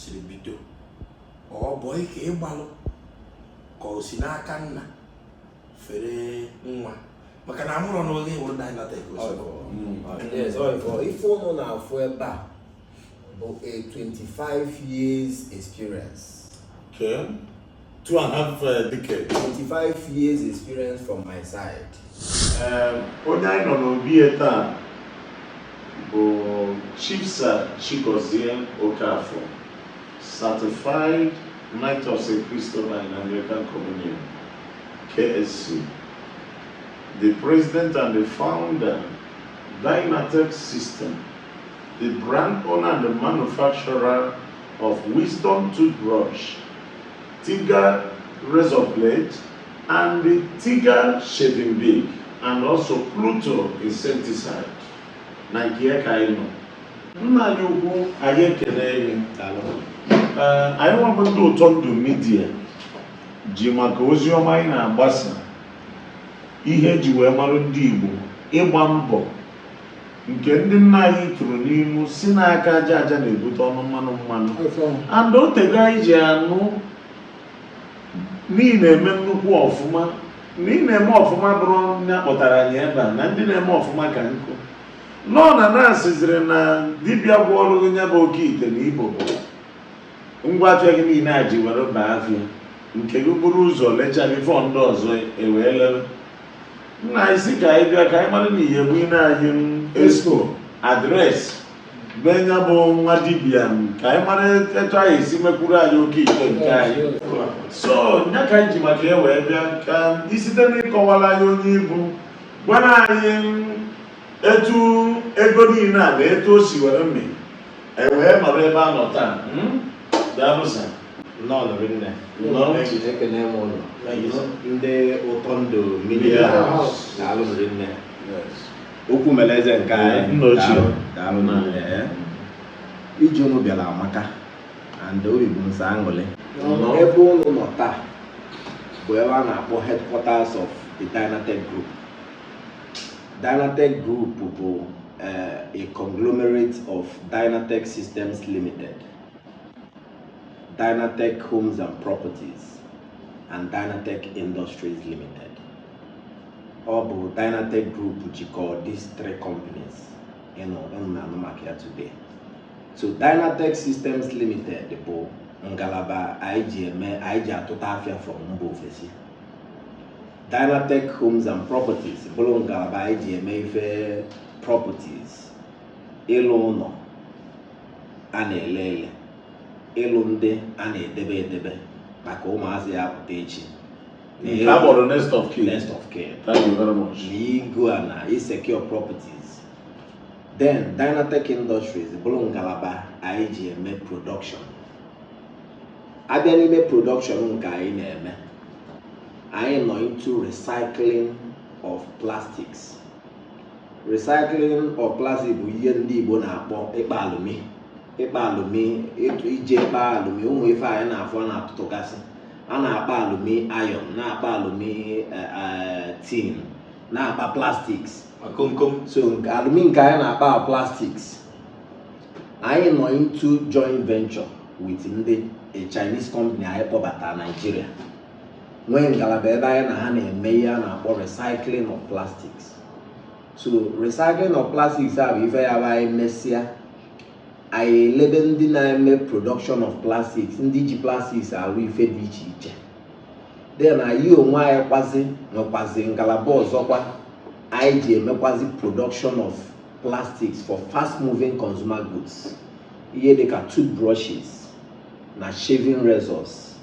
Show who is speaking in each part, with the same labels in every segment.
Speaker 1: siri bido ọ bụ ike ị gbalụ ka o si n'aka nna fere nwa maka na amụrụ n'oge ịwụrụ na ịnata ego ife ụnụ na-afụ ebe a bụ a 25 years experience. Okay. two and a half uh, decade. 25 years experience from my side. Um, onye anyị nọ n'obi ya taa bụ Chief Sir Chigozie Okafor, certified Knight of St. Christopher in Anglican Communion, KSC, the president and the founder, Dynatech System, the brand owner and the manufacturer of Wisdom Toothbrush, Tiger razor blade, and the Tiger shaving Bic, and also Pluto insecticide. Na nke ya ka anyị nọ. Nna anyị ukwu anyị ekele gị. Ee, anyị nwa bụ ndị ụtọ ndụ Media ji maka ozi ọma anyị na-agbasa ihe e ji wee marụ ndị Igbo ịgba mbọ nke ndị nna anyị tụrụ n'ilu sị na aka aja aja na-ebute ọnụ mmanụ mmanụ and o tego anyị ji anụ na ị na-eme nnukwu ọfụma na ị na-eme ọfụma bụrụ nya kpọtara anyị ebe a na ndị na-eme ọfụma ka nkụ nọ na na-asịziri na dibịa gwọọrọ gị nya bụ oke ite na ibu bụ ngwa afịa gị niile a ji were baa afịa nke gị buru ụzọ lecha before ndị ọzọ ewee lere nna anyị sị ka anyị bịa ka anyị mara na ihe bụ ị na-enye m expo address be nya bụ nwa dibịa ka anyị mara etu anyị esi mekwuru anyị oke ite nke anyị so nya ka anyị ji maka ya wee bịa ka ị site n'ịkọwara anyị onye ị bụ gwara anyị etu ego niile a na etu o si were mee e wee nọrọ ebe a nọ taa daalụ sir Nnọọ nụ rinne. Nnọọ. Ekene m unu. Ndị ụtọ ndụ Media daalụ nụ rinne. Okwu mere eze nke anyị. Nna ochie. Daalụ, daalụ nụ rinne. eh. Ije unu bịara amaka and obi bụ m sọ aṅụrị. Nnọọ. Ebe unu nọ taa bụ ebe a na-akpọ headquarters of the Dynatech Group. Dynatech Group bụ eh, a conglomerate of Dynatech Systems Limited. Dynatech Homes and Properties and Dynatech Industries Limited. Ọ bụ Dynatech Group jikọọ these three companies ụnụ na-anụ maka ya today. So Dynatech Systems Limited bụ ngalaba anyị ji eme anyị ji atụta afịa from mba ofesi. Dynatech Homes and Properties bụrụ ngalaba anyị ji eme ife properties ịlụ ụnọ a na-ele ele ịlụ ndị a na-edebe edebe maka ụmụazị ya-apụta echi na Nke a kpọrọ next of kin. next of kin Thank you very much. na igo ana isecure properties then dynatech industries bụrụ ngalaba anyị ji eme production a bịa n'ime production nke anyị na-eme anyị nọ into recycling of plastics recycling of plastic bụ ihe ndị Igbo na-akpọ ịkpa alụmi ịkpa alụmi ịtụ ije ịkpa alụmi ụmụ ife anyị na-afụ a na-atụtụgasị a na-akpa alụmi iron na-akpa alụmi eh, eh, tin na-akpa plastics akomkom so nke- alụmi nke anyị na-akpa bụ plastics anyị nọ into joint venture with ndị a Chinese company anyị kpọbata Nigeria nwee ngalaba ebe anyị na ha na-eme ihe a na-akpọ recycling of plastics so recycling of plastics a bụ ife ya bụ anyị mesịa anyị elebe ndị na-eme production of plastics ndị ji plastics arụ ife dị iche iche then anyị onwe anyị kwazi nwekwazi ngalaba ọzọkwa anyị ji emekwazi production of plastics for fast moving consumer goods ihe dịka toothbrushes na shaving razors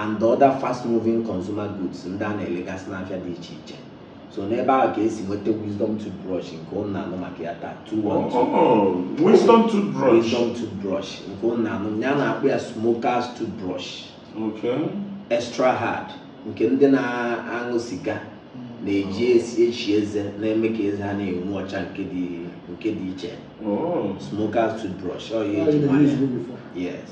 Speaker 1: and other fast moving consumer goods ndị a na-elegasị n'afịa dị iche iche so n'ebe ahụ ka e si nweta wisdom toothbrush nke ụnụ na-anụ maka ya taa wisdom toothbrush wisdom toothbrush nke ụnụ na-anụ ya a na-akpọ ya smokers toothbrush okay extra hard nke ndị na-aṅụ siga na-eji echi eze na-eme ka eze ha na-enwu ọcha nke dị nke dị iche oh. smokers toothbrush ọ ya eji yes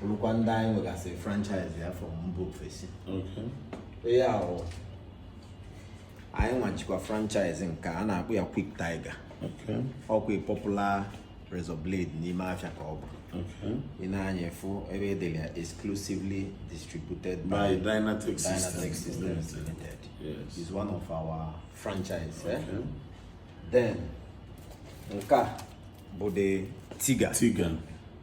Speaker 1: bụrụkwa ndị anyị nwegasị franchise ya from mba ofesi ihe ahụ anyị nwechakwa franchise nke a na-akpọ ya Quick Tiger ọkwa popular razor blade n'ime afịa ka ọ bụ ị nee anya ị fụ ebe e dere ya exclusively distributed by Dynatech Systems Limited is one of our franchise eh? then nke a bụ the Tiger Tiger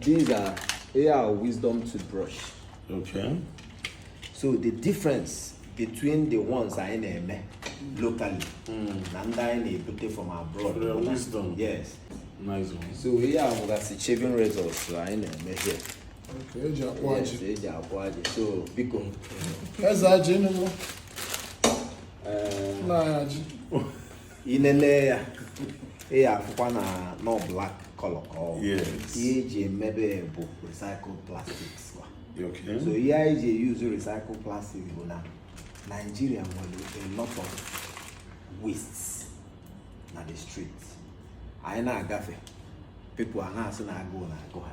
Speaker 1: These are here are wisdom toothbrush. Okay. So the difference between the ones anyị na-eme locally hmm. na ndị anyị na-ebute from abroad. Their wisdom. Yes. Nice one. So here anyị nwegasị shaving razors anyị na-eme here. Okay, e ji akpụ ajị. Yes, e ji akpụ ajị. So biko. Eze ajị ọnụ. Eh. Na ajị. i lele ya ị ya-afụkwa na nọ black color ka ọ ihe e ji emebe bụ recycled plastics so ihe anyị ji use recycled plastic bụ na Nigeria nwere a lot of wastes na the street anyị na-agafe people ana-asị na agụụ na-agụ ha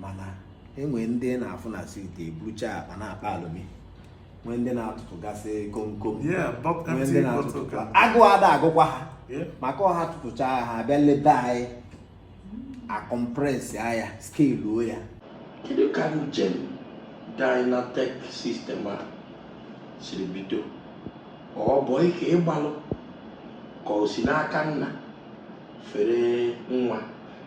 Speaker 1: mana e nwee ndị na-afụ na street eburucha akpa na-akpa alụmi nwee ndị na-atụtụgasị komkom nwee ndị na-atụtụ agụụ ada agụkwa ha maka ọ ha tụtụcha ha abịa n'ebe anyị akọmpresị anyị askeluo ya kedu ka njem dynatek sistem a siri bido ọ bụ ike ịgbalụ ka o si n'aka nna fere nwa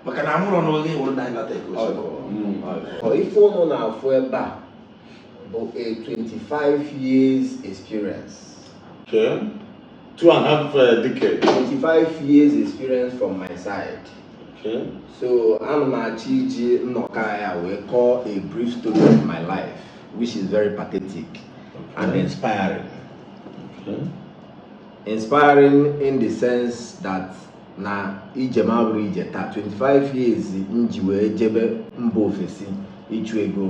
Speaker 1: maka na amụrụ n'oge wụrụ dynatek ozugbo ife ụnụ na-afụ ebe a bụ a 25 years experience okay. two and a half uh, decade 25 years experience from my side okay. so ana m achọ iji nnọkọ ya wee kọọ a brief story of my life which is very pathetic okay. and inspiring okay. inspiring in the sense that na ije m abụrụ ije taa 25 years m ji wee jebe mba ofesi ịchụ ego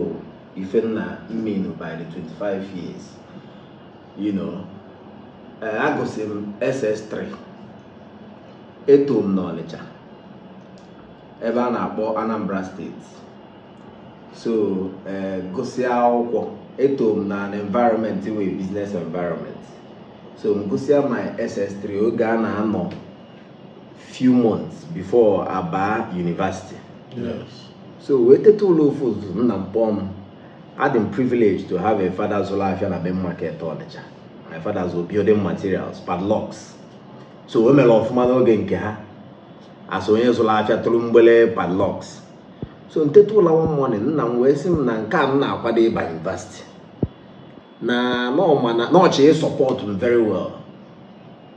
Speaker 1: ife m na-emenu by the 25 years you know eh, agụsị m ss3 eto m n'ọnịcha ebe a na-akpọ anambra steeti so eh, gụsịa akwụkwọ eto m na an environment wey business environment so m gụsịa my ss3 oge a na-anọ few months before aba university so wee teta ụla ofu ụtụtụ nna m kpọọ m adị m privilege to have a father zụrụ afịa na main market Ọnịcha my father zụrụ building materials padlocks so o mere ọfụma n'oge nke ha a sị onye zụrụ afịa tụrụ mgbele padlocks so m teta ụla one morning nna m wee sị m na nke a m na-akwado ịba university na ọ ma na ọ chọ ịsupport m very well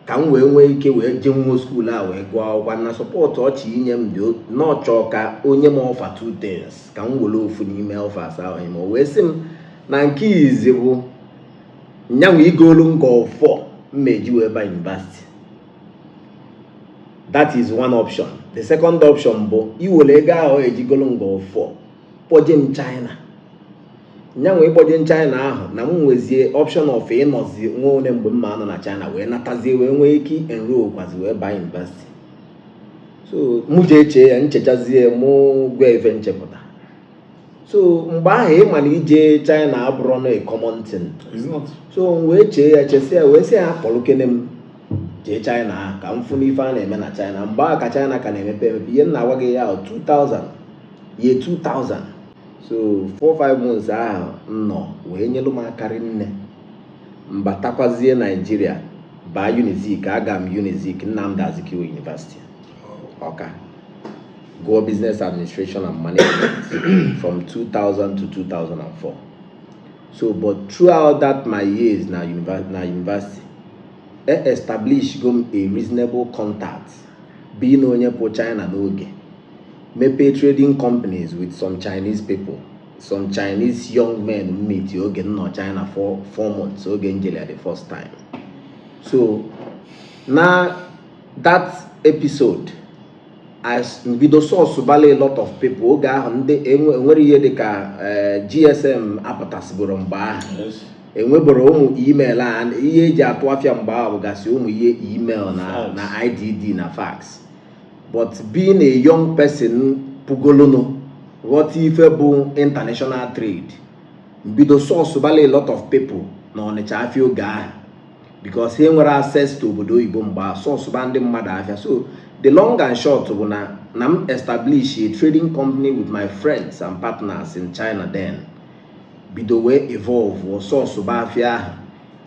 Speaker 1: ka m wee nwee ike wee jee nwa skuul a wee gụọ akwụkwọ na support ọ chọ inye m bụ na ọ chọ ka o nye m offer two things ka m were ofu n'ime offers ahụ ime o wee sị m na nke izi bụ nya bụ igolu m golf m ma-eji wee ba yunivasiti that is one option the second option bụ iwere ego ahụ eji golu m golf kpọje m China nya bụ ịkpọje m China ahụ na m nwezie option of ịnọzi nwa oge mgbe m ma-anọ na China wee natazie wee nwee ike enroll kwazi wee baa yunivesiti so mụ ji eche ya m chechazie mụ gwa ya ife m chepụta so mgbe ahụ ị ma na ije China abụrọ na common thing so m wee chee ya chesi ya wee sị ya kpọrụkene m jee China ahụ ka m fụ ife a na-eme na China mgbe ahụ ka China ka na-emepe emepe ihe m na-agwa gị year 2000 year 2000 so 45 months ahụ m nọ wee nyelụ m aka rinne m batakwazie naijiria baa unizik aga m unizik nnamdị azikiwe university ọka gụọ business administration and management from 2000 to 2004 so but throughout that my years na university e establish go m a reasonable contact being onye pụ china n'oge mepee trading companies with some Chinese people some Chinese young men m meet oge m nọ China for four months oge m jere the first time so na that episode m bido source balụ a lot of people oge ahụ ndị enwere ihe dịka eh, GSM apụtasịboro mgbe ahụ enweboro ụmụ email a ihe eji atụ afịa mgbe ahụ bụgasị ụmụ ihe email na IDD na fax but being a young person pụgolunụ ghọta ife bụ international trade m bido source balụ a lot of people n'Ọnịcha afịa oge ahụ because ha enwero access to obodo oyibo mgbe a source ba ndị mmadụ afịa so the long and short bụ na m establish a trading company with my friends and partners in China then bido wee evolve source ba afịa ahụ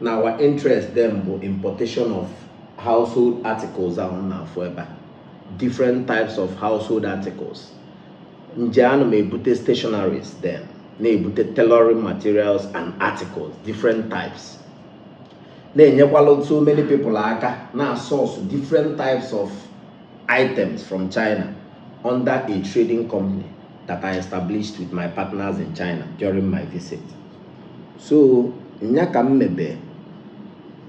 Speaker 1: na our interest then bụ importation of household articles ahụ na-afụ ebe a different types of household articles nje ana m ebute stationaries then na-ebute tailoring materials and articles different types na-enyekwala so many people aka na source different types of items from China under a trading company that I established with my partners in China during my visit. so nya ka m mebe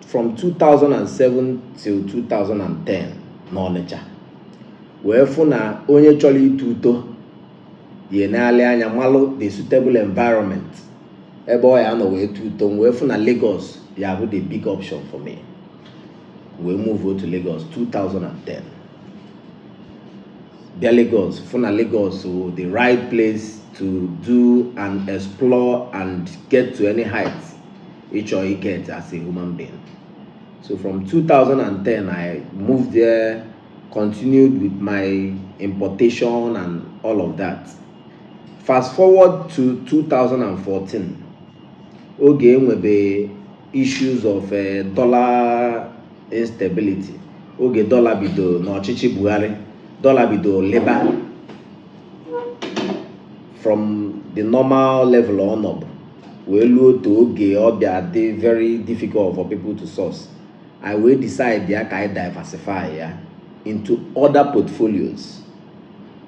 Speaker 1: from 2007 till 2010 n'Ọnịcha wee fụ na onye chọrọ ito uto ya-eneli anya malụ the suitable environment ebe ọ ya-anọ wee to uto wee fụ na Lagos ya-abụ the big option for me wee move otu Lagos 2010 bịa Lagos fụ na Lagos the right place to do and explore and get to any height ịchọ get as a human being so from 2010 I moved there continued with my importation and all of that fast forward to 2014 oge enwebe issues of eh, dollar instability oge dọla bido n'ọchịchị Buhari dọla bido lịba from the normal level ọ nọbu wee luo otu oge ọ bịa dị very difficult for people to source anyị wee decide ya ka anyị diversify ya into other portfolios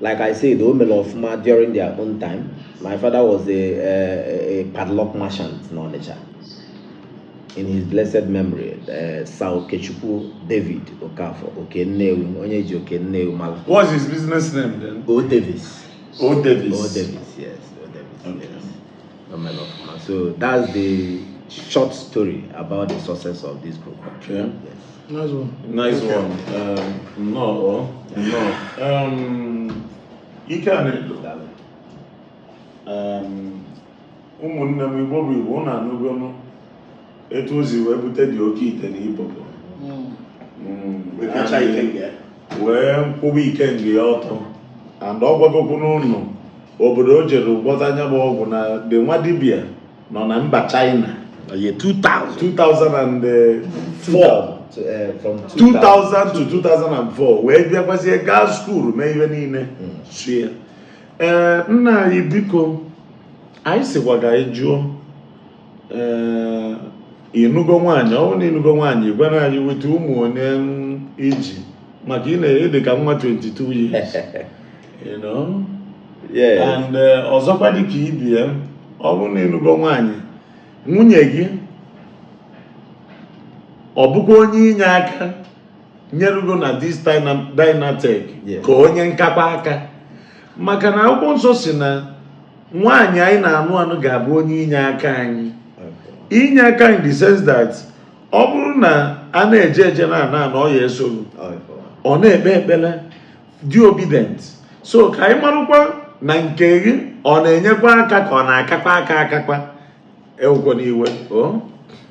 Speaker 1: Like I said, o mere ọfụma during their own time. My father was a, a, a padlock merchant in Onitsha. In his blessed memory, uh, Sir Okechukwu David Okafor, Okenewu, onye ji Okenewu mara. What's his business name then? O Davis. O Davis. O Davis, yes. O Davis, okay. yes. So that's the short story about the success of this group. Okay. Yes. Nice one. Nice okay. one. Um, no, oh, no. Um, you can um, ụmụnne m igbo bụ igbo na anụgonu etu o si wee bute the oke ite na ibobo wee kwụba ikenga ya ọtọ and ọ gwagokwu ụnụ obodo o jere gwọta nya bụ ọgwụ na the nwa dibia nọ na mba China 2000 2004 2000 to 2004 wee bịakwazie gaa skuulu mee ihe niile hmm. sie ee eh, nna anyị biko anyị sịkwa ka anyị jụọ ị nụgo nwaanyị ọ bụrụ na ị nụgo nwaanyị gwara anyị weta ụmụ one i ji maka ị na-adị ka nwa 22 years you know and uh, ọzọkwa dị ka ibe ya ọ bụrụ na ị nụgo nwaanyị nwunye gị ọ bụkwa onye inye aka nyerugo na this Dynatech ka onye nkakwa aka maka na akwụkwọ nsọ sị na nwaanyị anyị na-anụ anụ ga-abụ onye inye aka anyị inye aka in the sense that ọ bụrụ na a na-eje eje na-ana ana ọ ya-esoro ọ na-ekpe ekpere dị obedient so ka anyị marụkwa na nke gị ọ na-enyekwa aka ka ọ na-akakwa aka akakwa ewekwana iwe o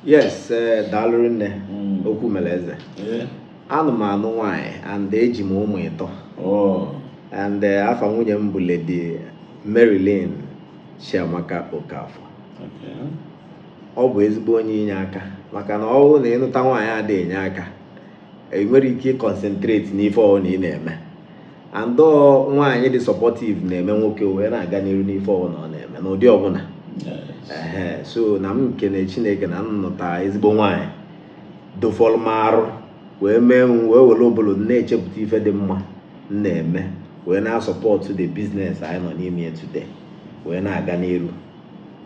Speaker 1: yes eh, daalụ rinne Mm. okwu mere eze Eh, anụ m anụ nwaanyị and eji m ụmụ ịtọ oh, and eh, afa nwunye m bụ lady marilyn chiamaka okafọ okay. ọ bụ ezigbo onye inye aka maka na ọ bụrụ na ị nụta nwaanyị ada enye aka ị nwerọ ike ịconcentrate n'ife ọbụla ị na-eme and nwaanyị dị supportive na-eme nwoke wee na-aga n'iru n'ife ọbụla ọ na-eme n'ụdị ọbụla so na m na-ekene chineke na m nụta ezigbo nwaanyị dofọrọ m arụ wee mee m wee were ụbụrụ na-echepụta ife dị mma m na-eme wee na-asupport the business anyị nọ n'ime ya today wee na-aga n'iru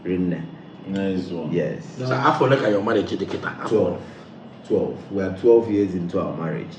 Speaker 1: rinne yes afọ ole ka your marriage dị kịta 12 12 we are 12 years into our marriage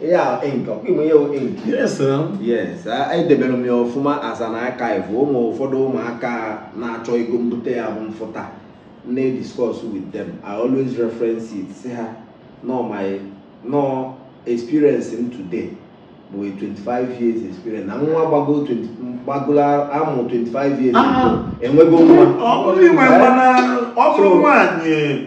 Speaker 1: Ihe a ink, ọkwa ị ma ihe wụ ink. Yes, eh? Yes, a- edebere m ya ọfụma as an archive. Ụmụ ụfọdụ ụmụaka na-achọ ego mbute ya bụ m fụta na-discuss with them. I always reference it sị ha na mụ nwa experience m today bụ a 25 years experience na nwa gbago 20 gbagolo a mụ 25 years Ah. ago enwego nwa ọ bụrụ inwe mmanụ ọ bụrụ nwaanyị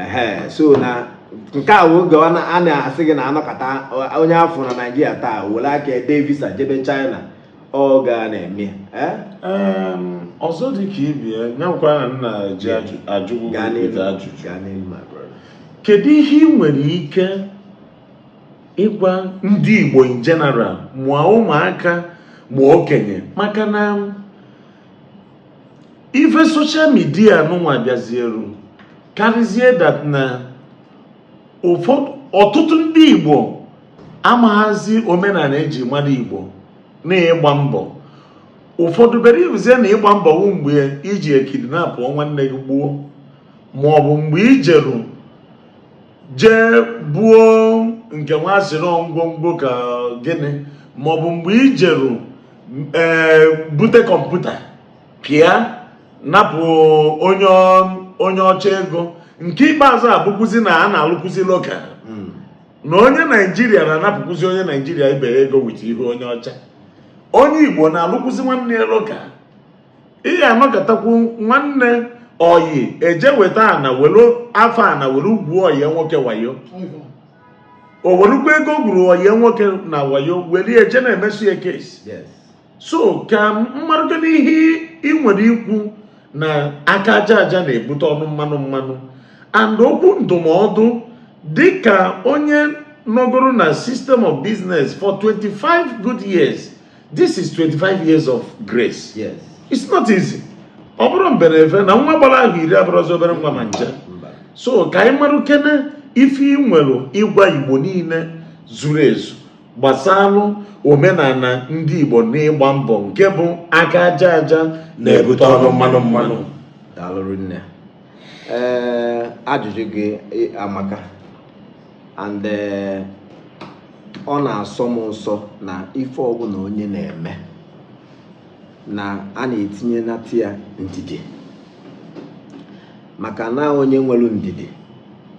Speaker 1: ehe so na nke a oge a na-asị gị na a nọkata onye afụ na naijiria taa were aka ede visa jebe china ọ ga na-eme ọzọ dị ka ibie nyakwa na m na-eji ajụ gị ajụjụ kedu ihe ị nwere ike ịgwa ndị igbo in general ma ụmụaka ma okenye maka na ife social media nụnwa bịazieru karịzie that na ụfọdụ ọtụtụ ndị igbo amaghazi omenala e ji mara igbo na ịgba mbọ ụfọdụ bere ibuzie na ịgba mbọ wụ mgbe i jee kidnapụ nwanne gị gbuo ma ọ bụ mgbe i jeru jee buo nke a sịrị ngwongwo ka gịnị ma ọ bụ mgbe i jeru ee eh, bute kọmputa pịa napụ onye onye ọcha ego nke ikpeazụ a bụkwuzi na a na-alụkwuzi local hmm. na onye naijiria na-anapụkwuzi onye naijiria ibe ya ego with ihu onye ọcha onye igbo na-alụkwuzi nwanne ya local ihe a nọkatakwu nwanne oyi eje weta ana were afọ ana were ugwu oyi nwoke wayo o werukwa ego o gwuru wayo nwoke na wayo welie je na-emesu ya kesi so ka m marụkwanụ ihe ị nwere ikwu na aka aja aja na-ebute ọnụ mmanụ mmanụ and okwu ndụmọdụ dịka onye nọgoro na system of business for 25 good years this is 25 years of grace yes. it's not easy ọ bụrọ mbere ife na nwa gbara ahọ iri abụrọzi obere nwa ma ncha so ka anyị marụ kene ife ị nwere ịgwa igbo niile zuru ezu gbasalụ omenala ndị igbo n'ịgba mbọ nke bụ aka aja aja na-ebute ọnụ mmanụ mmanụ daalụ rinne ee ajụjụ gị amaka and eh, ọ na-asọ m ụsọ na ife ọbụla onye na-eme na a na-etinye nata ya ndidi maka na onye nwere ndidi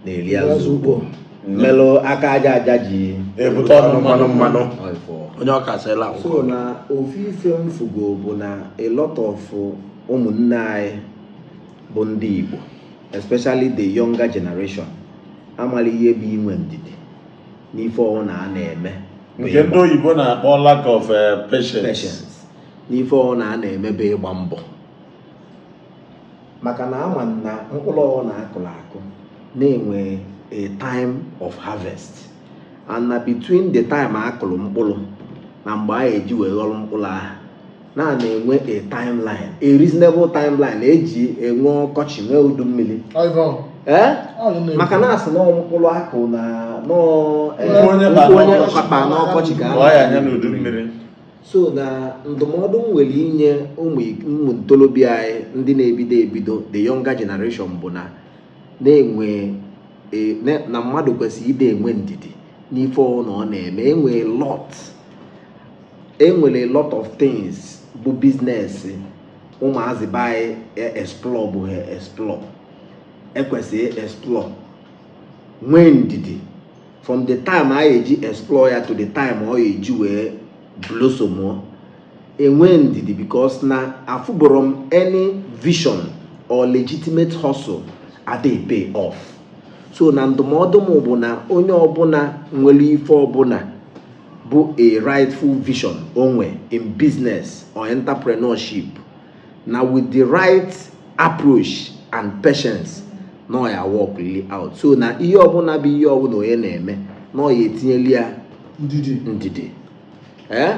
Speaker 1: na-eri azụ ukpo melụ aka aja aja ji ebute ọnụ mmanụ mmanụ ọifọ onye ọka sịla so akwụkwọ na ofu ife m fugo bụ na a lot of ụmụnne anyị bụ ndị Igbo especially the younger generation amarọ ihe bụ inwe ndidi n'ife ọwụna a na-eme nke ndị oyibo na-akpọ lack of eh, patience n'ife ọwụna a na-eme bụ ịgba mbọ maka na a ma na mkpụrụ ọwụna a kụrụ akụ na-enwe a time of harvest and na between the time a kụrụ mkpụrụ na mgbe a eji wee ghọrọ mkpụrụ ahụ na na-enwe a timeline a reasonable timeline e ji enwe ọkọchị nwee udu mmiri eh? maka na a sị na mkpụrụ akụ na nkụ onye kpakpa n'ọkọchị ka so na ndụmọdụ m nwere inye ụmụ ntorobịa anyị ndị na-ebido ebido the younger generation bụ na na-enwe e, na mmadụ kwesịrị ịdị enwe ndidi n'ife ọwụna ọ na-eme enwe lot enwere a lot of things bụ biznes ụmụazị be anyị e explorebuhọ explore e kwesịrị ị explore nwee ndidi from the time anyị eji explore ya to the time ọ ya eji wee blossom enwe ndidi because na afụburọ m any vision or legitimate hustle adịghị pay off so na ndụmọdụ m bụ na onye ọbụla nwere ife ọbụla bụ a rightful vision o nwe in business or entrepreneurship na with the right approach and patience na ọ ya aworkụlị out so na ihe ọbụla bụ ihe ọbụla onye na-eme na ọ ya etinyeli ya ndidi ndidi ee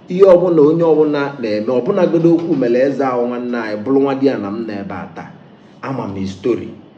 Speaker 1: ihe ọbụla onye ọbụla na-eme ọbụnagodo okwu mere eze ahụ nwanne anyị bụrụ nwadiana m n'ebe a taa ama m history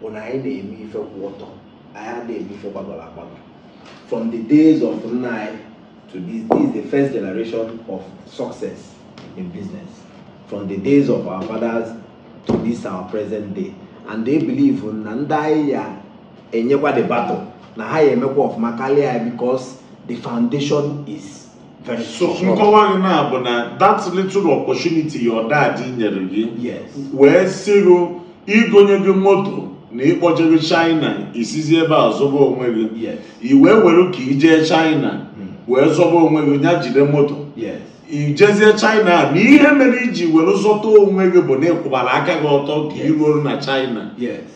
Speaker 1: bụ na anyị na-eme ife kwụ ọtọ anyị adịghị eme ife gbagọrọ agbagọ from the days of nna anyị to this this is the first generation of success in business from the days of our fathers to this our present day and I believe na ndị anyị ya enyekwa the baton na ha ya emekwa ọfụma karịa ya because the foundation is nkọwa gị na bụ na that little opportunity your dad nyere gị wee sịrụ igonye gị moto na ịkpọje gị China isizi ebe a zọba onwe gị i wee were ka ijee China hmm. wee zọba onwe gị nya jide moto ijezie China a na ihe mere iji were zọta onwe gị bụ na ịkwụbara aka gị ọtọ ka iruo na China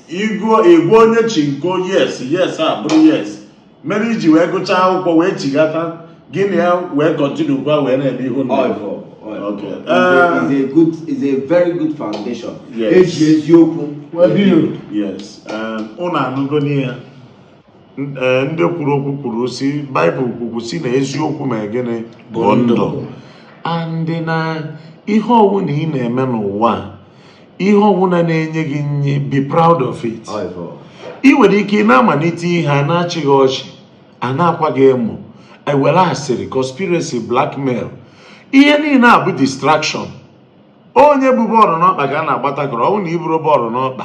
Speaker 1: ịgwa onye chinko yes yes abụrụ yes mere iji wee gụchaa akwụkwọ wee chighata gị na ya wee kọntinukwa wee na-eme ihe unu Ọ bụ- ọ- Okay. is a- is a good is a very good foundation Yes. eji eziokwu Well, do you? yes um, unu anụgonị ya N- eh, ndị kwuru okwu kwuru si baịbụl kwukwu si na eziokwu mee gịnị bụ ndụ and na ihe ọwụna ị na-eme n'ụwa a, ihe ọbụla na-enye gị nri be proud of it ị nwere ike ị na-amalite ihe a na-achị gị ọchị a na-akwa gị emo ewere asịrị conspiracy blackmail ihe niile a bụ distraction onye bu bọọlụ n'ọkpa ka a na-agba tackle ọ bụ na iburo bọọlụ n'ọkpa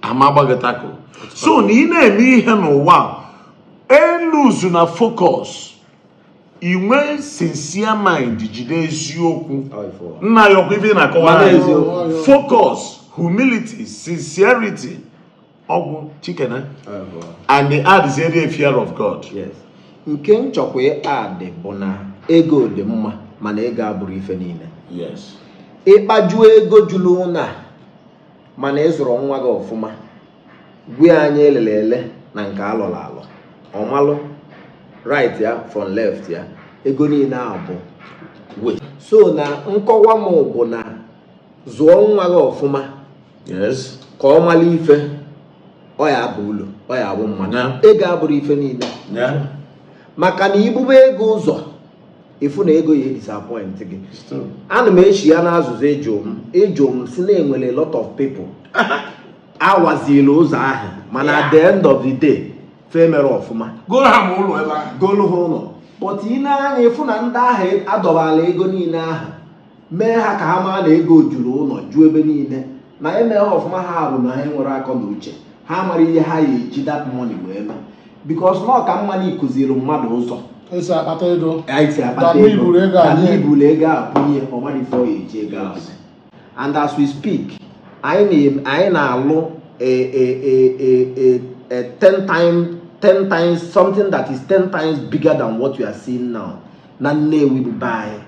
Speaker 1: ama agba gị tackle so na ị na-eme ihe n'ụwa eluzuna focus inwe sincere mind jide eziokwu nna ya ọkwa ife na-akọwa focus humility sincerity ọgwụ chikena and addịzie ya fear of God nke m chọkwa ịadd bụ na ego dị mma mana ego abụrọ ife niile ịkpajuo ego juru ụlọ mana ịzụrọ nwa gị ọfụma gwa ya anya elele ele na nke alọrọ alọ ọmalụ right ya from left ya ego niile ahụ bụ waste so na nkọwa m bụ na zụọ nwa gị ọfụma ka ọ mara ife ọ ya aba ulu ọ ya abụ mmadụ ego abụrọ ife niile maka na ibube ego ụzọ ịfụ na ego ya disappoint gị ana m echi ya n'azụzụ ịjụ m ịjụ m si na enwere lot of people awazila ụzọ ahụ mana at the end of the day fe mere ọfụma goro ha ma ụlọ ebe ahụ golu ha ụlọ but ị nee anya ịfụ na ndị ahụ adọbala ego niile ahụ mee ha ka ha maa na ego juru ụlọ ju ebe niile na ya eme ha ọfụma ha bụ na ha nwere akọ na uche ha mara ihe ha ya eji that money wee mee because na ọka mma na ịkuziri mmadụ ụzọ esi akpata ego anyị si akpata Dami ego buru ego a Dami nye. buru ego a bunye ọmarọ ife ọ ya eji ego ahụ and as we speak anyị na-alụ a a a a a ten time ten times something that is ten times bigger than what you are seeing now na Nnewi bụ be anyị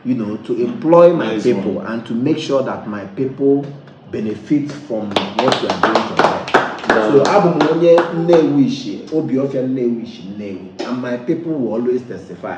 Speaker 1: you know to employ my nice people one. and to make sure that my people benefit from what you are doing for them so abụ m onye Nnewi ishi Obiofia Nnewi ishi Nnewi and my people will always testify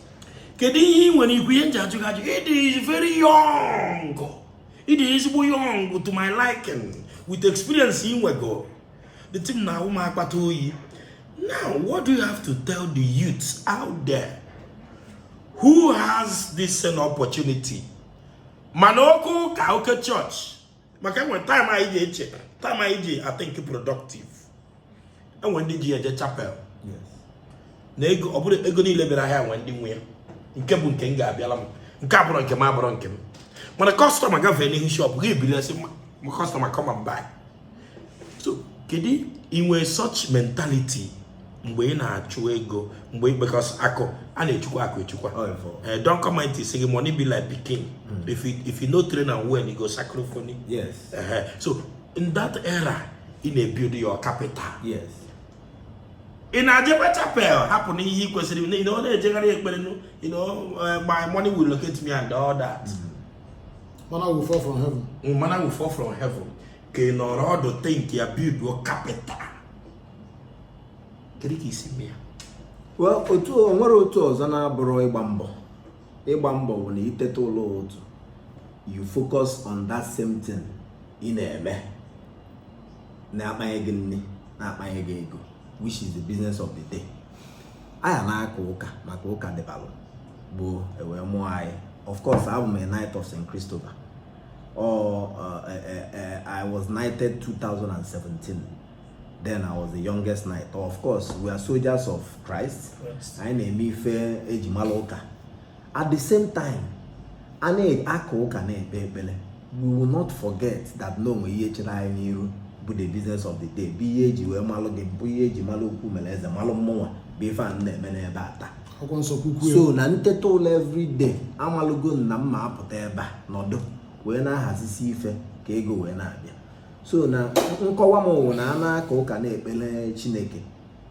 Speaker 1: kedu ihe ị nwere ikwu ihe m ji ajụ gị ajụ ịdị is very young ịdị ezigbo young to my liking with experience ị nwego the thing na-awụ m akpata oyi now what do you have to tell the youth out there who has this same opportunity mana oke ụka oke church maka enwe time anyị ji eche time anyị ji athink productive enwe ndị ji eje chapel na ego ọ bụrụ ego niile bịara ahịa nwe ndị nwe ya nke bụ nke m ga-abịala m nke abụrọ nke m abụrọ nke m mana customer gafee n'ihu shop gị i bilie sị customer come and buy so kedu i nwee such mentality mgbe ị na-achụ ego mgbe because akụ a na-echekwa akụ echekwa eh, don comment isi gị money be like pikin hmm. if you if you no train am well you go sacrifice yes eh, so in that era ị na-ebuild your capital yes ị na-ejekwa chapel hapụ na ihe ị kwesịrị na ọ na-ejegharị ekpere eh, my money will locate me and all that hmm. manna will fall from heaven manna will fall from heaven ka ị nọrọ ọdụ think ya build your capital kedu ka i si mee ya otu o nwerọ otu ọzọ na-abụrọ ịgba mbọ ịgba mbọ bụ na i teta ụla ụtụtụ you focus on that same thing ị na-eme na-akpanye gị nri na-akpanye gị ego which is the business of the day anyị na-aka ụka maka ụka dịbalụ gboo e wee mụọ anyị of course abụ m a knight of St. Christopher or uh, uh, uh, I was knighted 2017 then I was the youngest knight of course we are soldiers of Christ anyị na-eme ife eji mara ụka at the same time a na-aka ụka na-ekpe ekpere we will not forget that na o nwe ihe chere anyị n'iru bụ the business of the day bụ ihe eji wee malụ gị bụ ihe eji malụ okwu mere eze malụ mụnwa bụ ife a na-eme n'ebe a taa so na nteta ụla everyday amalụgo m na m ma-apụta ebe a nọdụ wee na-ahazisi ife ka ego wee na-abịa so na nkọwa m wụ na a na-aka ụka na-ekpere chineke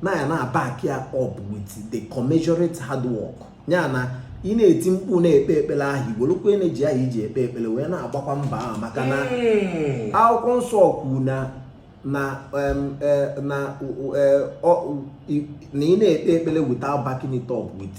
Speaker 1: na ị na-aback ya up with the commensurate hard work ya na ị na-eti mkpu na-ekpe ekpere ahụ i bulukwa energy ahụ i ji ekpe ekpere wee na-agbakwa mbọ ahụ maka na hmm. akwụkwọ nsọ kwuru na na e, na e, ị na-ekpe ekpere without backing it up with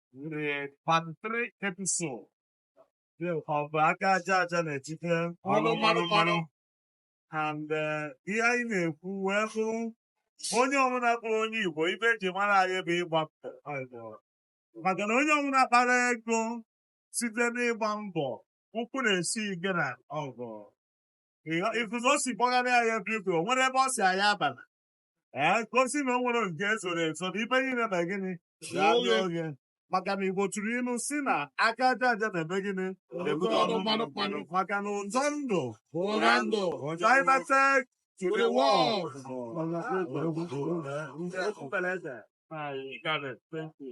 Speaker 1: the part three episode of aka aja aja na-ebute ọnụ mmanụ mmanụ and eh, ihe anyị na-ekwu wee bụ onye ọbụla kpọrọ onye Igbo ife eji mara anyị bụ ịgba mbọ maka na onye ọbụla kpara ego site n'ịgba mbọ ụkwụ na-esi ike na ọgụ ifufe o si gbagharị anyị ebe igwe o nwere ebe ọ si anyị abala ee ka o si na o nwere nke ezoro ezo na ife niile na gịnị ga-adị oge maka na igbo tụrụ ilu si na aka aja aja na-eme gịnị na-ebute ọnụ mmanụ mmanụ maka na ụzọ ndụ ụra ndụ ụjọ imete to the world Thank you.